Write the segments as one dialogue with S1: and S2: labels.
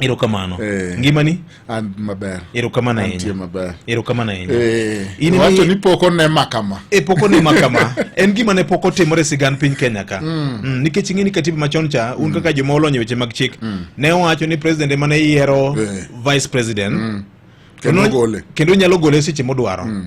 S1: erokamano
S2: Eh. ngimani an maber
S1: erokamano antie ahinya
S2: maber erokamano
S1: ahinya
S2: Eh, In wacho imi- ni
S1: pok onema kama e pok onema kama
S2: en gima ne pok otimore e sigand piny kenya ka mm. nikech ing'e ni katiba machon cha un kaka joma olony e weche mag chik ne owacho ni president ema ne yiero Eh. vice president Kendo Kendo- gole. kendo nyalo gole seche modwaro mm.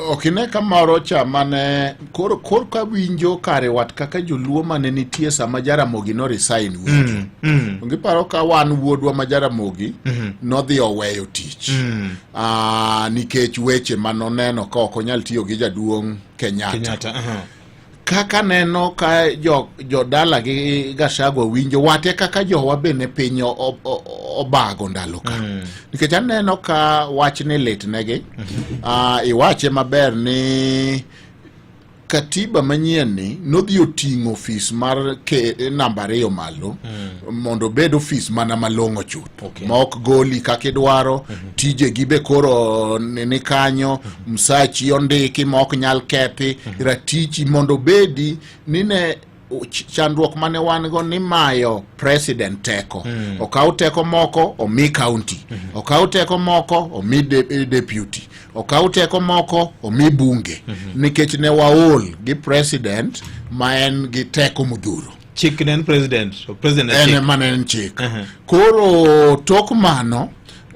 S1: okine ka moro cha mane koro kor ka winjo kare wat kaka joluo mane nitie sama jaramogi no resign winjo mm, mm. onge paro ka wan wuodwa ma jaramogi mm -hmm. nodhi oweyo tich mm. uh, nikech weche manoneno ka ok onyal tiyo gi jaduong kenyatta, kenyatta uh -huh. kaka neno ka jodala jo gi Gachagua winjo wate kaka jowa be ne piny obago ndalo ka mm. nikech aneno ka wach ni litnegi mm -hmm. uh, ah, iwache maber ni katiba manyien ni nodhi oting'o ofis mar namba ariyo malo mm. mondo obed ofis mana malong'o chuth Okay. ma ok goli kaka idwaro mm -hmm. tijegi be koro ni kanyo mm -hmm. msachi ondiki ma ok nyal kethi mm -hmm. ratichi mondo bedi nine chandruok mane wan go ni mayo president teko mm. okaw teko moko omi county mm -hmm. okaw teko moko omi de, eh, deputy okaw teko moko omi bunge mm -hmm. nikech ne waol gi president ma en gi teko modhuro chik ne
S2: en president so president en ema ne
S1: en chik uh -huh. koro tok mano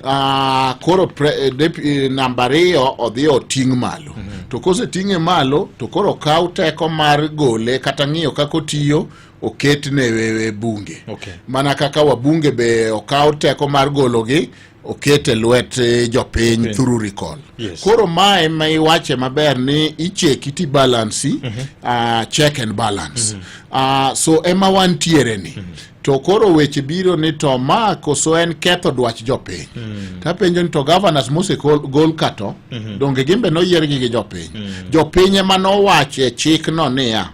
S1: uh, koro pre, eh, dep, eh, namba ariyo odhi oting' malo uh mhm. -huh. to koseting'e malo to koro kaw teko mar gole kata ng'iyo kaka otiyo oket ne wewe bunge okay. mana kaka wabunge be okaw teko mar gologi oket e lwet eh, jopiny through recall yes. Koro mae ma iwache maber ni icheki ti balansi mm -hmm. uh, check and balance mm -hmm. uh, so ema wantiere ni mm -hmm to koro weche biro ni to ma koso en ketho dwach jopiny mm. tapenjo ni to governors mosegol kato mm -hmm. donge gimbe noyiergi gi jopiny mm. jopiny ema nowacho e chikno niya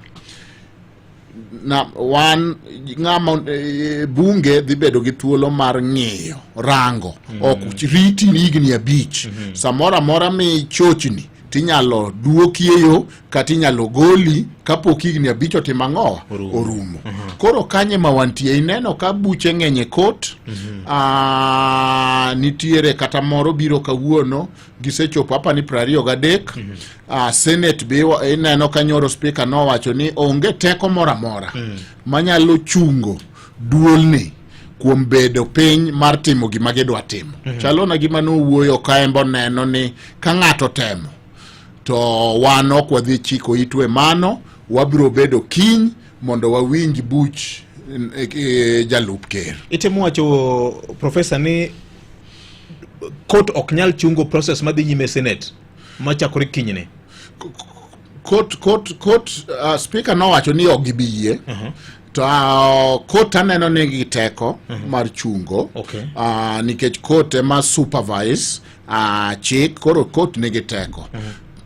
S1: na wan ng'ama e, bunge dhi bedo gi thuolo mar ng'iyo rango mm. ok riti ni higni abich mm -hmm. samoro amora mi chochni tinyalo duokie yo kata inyalo goli kapok higni abich otimo ang'owa orumo mm -hmm. koro kanye ma wantie ineno ka buche ng'eny e kot mm -hmm. nitiere kata moro biro kawuono gisechopo apa ni prariyo gadek mm -hmm. uh, senate be ineno ka nyoro speaker nowacho ni onge teko moro amora mm. manyalo chungo duolni kuom bedo piny mar timo gima gidwa timo mm -hmm. chalo na gima nowuoyo kaembo neno ni ka ng'ato temo to wan ok wadhi chiko itwe mano wabiro bedo kiny mondo wawinj buch e, e, jalup ker itemo wacho
S2: profesa ni court ok nyal chungo process madhi nyime senate machakore kinyne court court
S1: court uh, speaker nowacho ni ok gibi yie uh -huh. to uh, court aneno ni gi teko uh mhm. -huh. mar chungo okay. uh, nikech court ema supervise uh, chik koro court nigi teko uh mhm. -huh.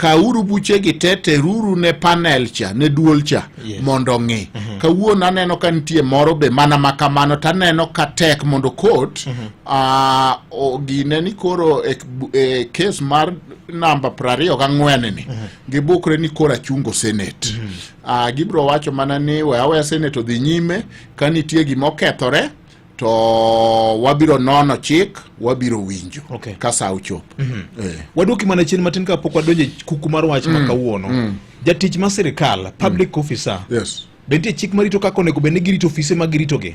S1: kauru buchegi te teruru ne panel cha ne duol cha yes. mondo ong'i mm -hmm. kawuono aneno ka nitie moro be mana ma kamano to aneno ka tek mondo kot mm -hmm. uh, ah, gine ni koro e, e kes mar namba prariyo ga ng'wen ni mm -hmm. gibukre ni koro achungo senet mm -hmm. uh, ah, gibro wacho mana ni we aweya senet odhi nyime ka nitie gima okethore to wabiro nono chik wabiro winjo okay. ka sa ochopo mm -hmm. eh. waduoki mana
S2: chien matin kapok wadonjo e kuku mar wach mm. ma kawuono mm. jatich ma sirikal public mm. officer yes. be nitie chik marito kaka onego bed ni girito ofise ma giritogi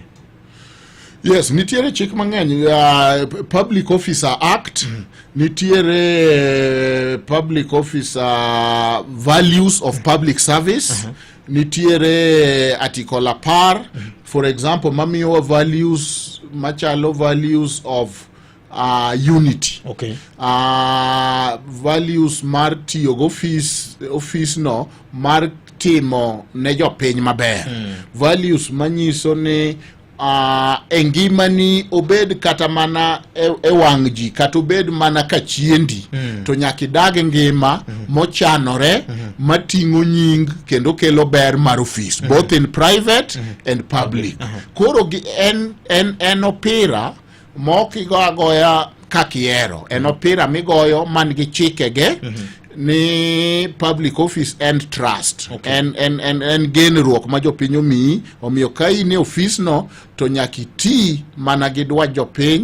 S1: yes nitiere chik mang'eny uh, public officer act mm. nitiere uh, public officer values of public service uh -huh. nitiere article apar for example mamiyowa values machalo values of uh, unity okay.
S2: uh, values
S1: mar tiyo go office office no mar timo ne jopiny maber mm. values manyiso ni uh, e ngimani obed kata mana e, e wang' ji kata obed mana ka chiendi mm. to nyaka idag ngima mm. mochanore mm. mating'o nying kendo kelo ber mar ofis mm. both in private mm. and public mm. koro en, en, en opira mok igo agoya kaka ihero en opira migoyo man gi chikege mhm. ni public office and trust okay. en, en, en, en genruok ma jopiny omiyi omiyo ka in e ofisno to nyaka iti mana gi dwach jopiny